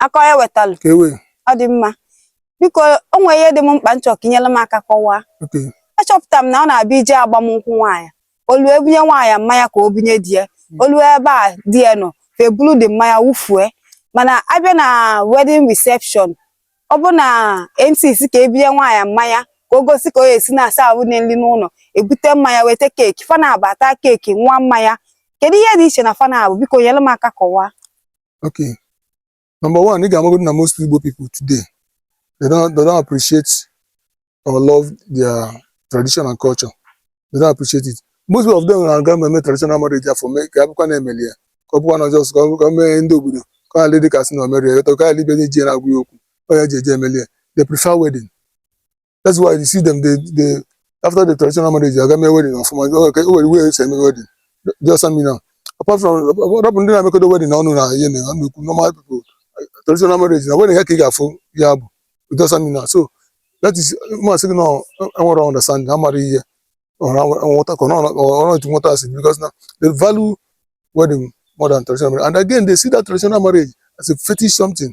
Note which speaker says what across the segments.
Speaker 1: akọ ya wetalụ ka ewe ọ dị mma biko o nwere ihe dị m mkpa m chọ ka i nyere m aka kọwaa okay
Speaker 2: achọpụtara m na
Speaker 1: ọ na-abịa ije agbamnkwụ nwaanyị o lue ebunye nwaanyị mmanya ka o bunye di ya o lue ebe di ya nọ fa ebulu the mmanya wụfue mana abịa na wedding reception ọ bụ na mc sị ka ebunye nwaanyị mmanya ka o gosi ka o esi na-aserve nri n'ụlọ ebute mmanya weta keeki fa naabọ ataa keeki ṅụa mmanya kedu ihe dị iche na fa naabọ biko nyere m aka kọwaa
Speaker 2: Okay. Number one, ị ga-amagodo na most Igbo people today, they don't, they don't appreciate or love their tradition and culture. They don't appreciate it. Most of them na-aga eme traditional marriage fa mee ka ọ bụkwa na emeli ya ka ọ bụkwa na just ka o mee ndị obodo ka ọ dị ka asị na o meri ya ka ọ ibe nye ji na-agwa ya okwu ọ ya ji eje emeli ya they prefer wedding that's why you see them they they after the traditional marriage aga mee wedding ọfụma o nwere o nwere way esi eme wedding do you understand me now apart from rọpụ ndị na-emekọdo wedding na ọnụ na ihe na ọnụ ekwu normal people traditional marriage na wedding ahụ ka ị ga-afụ ya bụ do you understand me now so that is m asị gị na ọ- enwere understanding ha mara ihe ọrụ nwụta ka ọrụ etu nwụta asị because na they value wedding more than traditional marriage and again they see that traditional marriage as a fetish something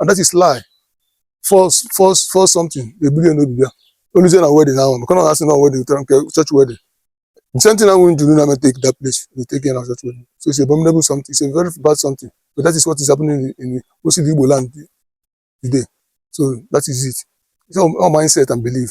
Speaker 2: and that is lie false false false something ebulu n'obi bịa o luzie na wedding ahụ maka na ọ asị na wedding tara nke church wedding the same thing ahụ njuru na take that place they take it na church wedding so it's a abominable something it's a very bad something but that is what is happening in, in most Igbo land today so that is it it's all, all mindset and belief